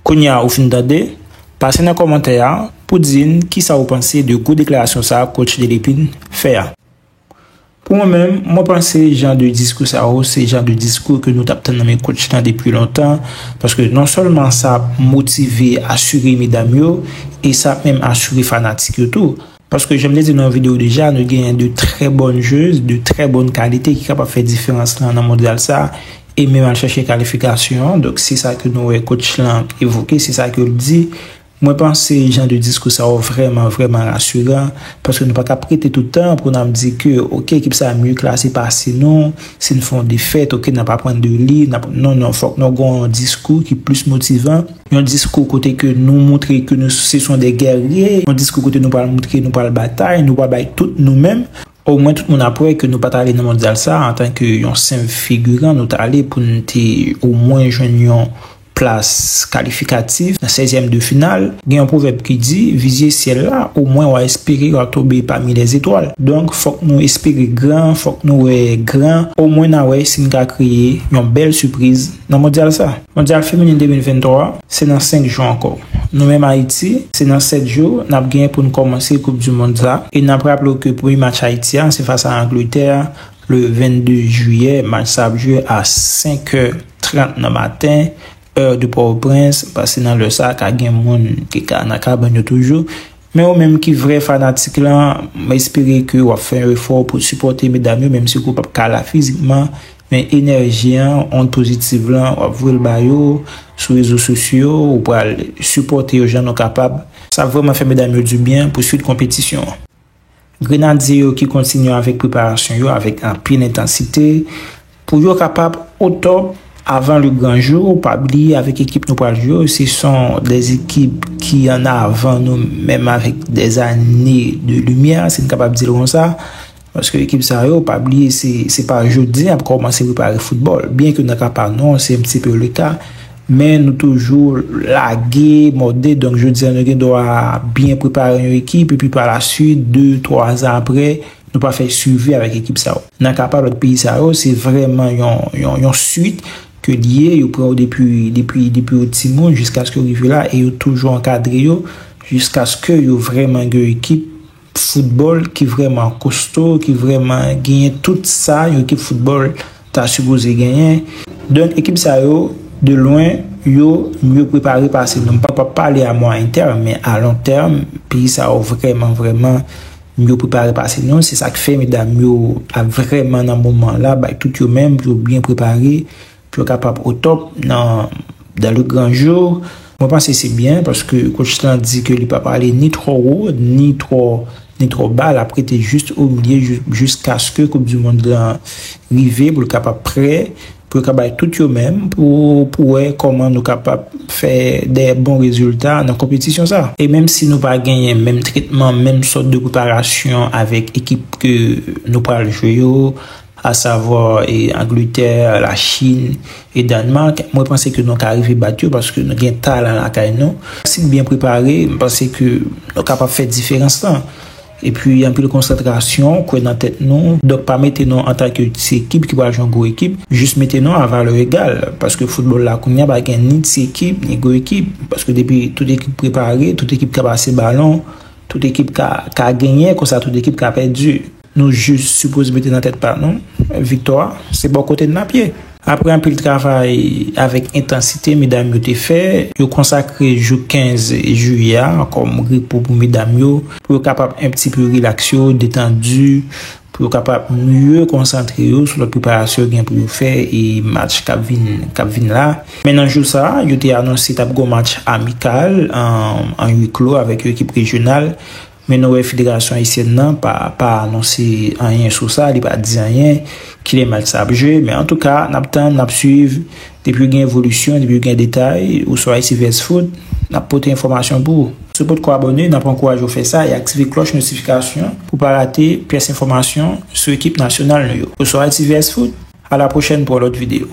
Kounya ou fin tande, pase nan kòmantè a pou di n kisa ou panse de gwo deklarasyon sa coach Delepine fè a. Pou mwen menm, mwen panse jan de diskou sa yo se jan de diskou ke nou tap tann nan men coach lan depi lontan, paske non sèlman sa ap motive, asire medam yo e sa ap menm asire fanatik yo tou. Paske jan m te di nan yon video deja, nou genyen 2 trè bòn jwez, 2 trè bòn kalite ki kapab fè diferans lan nan mondyal sa a, e menm al chache kalifikasyon an. Donk se sa ke nou wè kotch lan evoke, se sa ke l di. Mwen panse jan de diskou sa yo vrèman, vrèman rasiran. Paske nou pa ka prete tout tan pou n ap di ke ok ekip sa a mye klase pase nou, si n fè yon defèt ok n ap aprann de li, n ap, non, non, fòk nou gen yon diskou ki plis motivan. Yon diskou kote ke nou moutre ke nou se son de gèrye, yon diskou kote nou pral moutre nou pral batay, nou pral bay tout nou menm. O mwen tout moun ap wè ke nou pat ale nan mondyal sa a antan ke yon senp figiran, nou t ale pou n te o mwen jwenn yon plas kalifikatif nan sèzyèm de final. Gen yon pwovèb ki di, vizye syèl la, o mwen w a espere w a tonbe pami lèzetwal. Donk fòk nou espere gran, fòk nou wè gran, o mwen n a wè si n ka kreye yon bèl sipriz nan mondyal sa a. Mondyal Feminin 2023 se nan 5 jou ankò. Nou menm Ayiti, se nan 7 jou n ap genyen pou n kòmanse koup du mond sa e n ap raple w ke premye match Ayiti a se fas a Angletè le 22 jiyè, match sa ap jwe a 5 è 30 nan maten heure de Port-au-Prince, pase nan lè sa ka gen moun ki ka nan kabann yo toujou. Men ou menm ki vrè fanatik lan, m espere ke wap fè yon efò pou sipòte medam yo menm si ke w pap ka la fizikman, men enèji an, ond pozitiv lan wap voye l ba yo sou rezo sosyo, ou pral sipòte yo jan nou kapab, sa ap vrèman fè medam yo dibyen pou swit konpetisyon an. Grenadye yo ki kontinye avèk preparasyon yo avèk anpil entansite pou yo kapab otòp avan le gran jou, pa bliye avèk ekip nou pral jwe yo se son 2 ekip ki an avan nou menm avèk dè zane de limyè si n kapab di l konsa paske ekip sa yo pa bliye se pa jodi y ap kòmanse prepare foutbòl byenke nan ka pa nou se yon ti peu leta. Men nou toujou lage, mòde, donk jodi a nou gen dwa byen prepare yon ekip epi pa la suit, de, twa zan apre, nou pa fè swivi avèk ekip sa yo. Nan ka pa lòt peyi sa yo, se vrèman yon suit ke li ye, yo pran yo depi yo timoun jiskaske yo rive la e yo toujou ankadre yo jiskaske yo vrèman gen yon ekip. foutbòl ki vrèman kosto, ki vrèman genyen tout sa yon ekip foutbòl ta sipoze genyen. Donk ekip sa yo, de lwen, yo mye prepare pase nou. M pa pa pale a mwayen tèm, men a lon tèm, peyi sa yo vrèman, vrèman mye prepare pase nou. Se sa k fè medam yo ap vrèman nan moman la, bay tout yo menm pou yo byen prepare. Pou yo kapab au top nan dans le grand jour. Mwen panse se byen paske coach lan di ke li pap ale ni trò wo ni trò ni trò ba lap rete just au milieu jiskaske koup du mond lan rive pou l kapab prè pou yo ka bay tout yo menm pou pou wè kòman nou kapab fè dè bon rezilta nan konpetisyon sa. E menm si nou pa genyen menm tretman menm sòt de preparasyon avèk ekip ke nou pral jwe yo a savwa Angletè, la Chine e Danemark, mwen panse ke nou ka rive bat yo paske nou gen talan lakay nou. Si nou byen prepare, m panse ke nou kapab fè diferans lan. E pi anpil konsantrasyon, kwè nan tèt nou, donk pa mete nou antan ke ti ekip ki pral jwe yon gwo ekip, jis mete nou a valè egal paske foutbòl la kounye a pa gen ni ti ekip, ni gwo ekip paske depi tout ekip prepare, tout ekip ka pase balon, tout ekip ka genyen konsa tout ekip ka pèdi. Nou jis sipoze mete nan tèt pa nou, viktwa se bò kote n l ap ye. Aprè anpil travay avèk entansite medam yo te fè, yo konsakre jou 15 jiyè a kòm repo pou medam yo, pou yo kapab enptipe rilaks yo, detandu, pou yo kapab mye konsantre yo sou lòt preparasyon yo gen pou yo fè e match k ap vin k ap vin la. Men nan jou sa, yo te anonse t ap gen yon match amikal an huis clos avèk yon ekip rejyonal. Men nou wè federasyon ayisyèn nan pa pa anonse anyen sou sa, li pa di anyen, kilè match sa ap jwe, men antouka n ap tann, n ap swiv, depi gen evolisyon, depi gen detay, ou sou Ayiti-Vèzfoot, n ap pote enfòmasyon pou ou. Si w potko abòne, n ap ankouraje w fè sa e aktive klòch notifikasyon pou w pa rate pyès enfòmasyon sou ekip nasyonal nou yo. Ou sou Ayiti-Vèzfoot, a la pwochèn pou yon lòt videyo.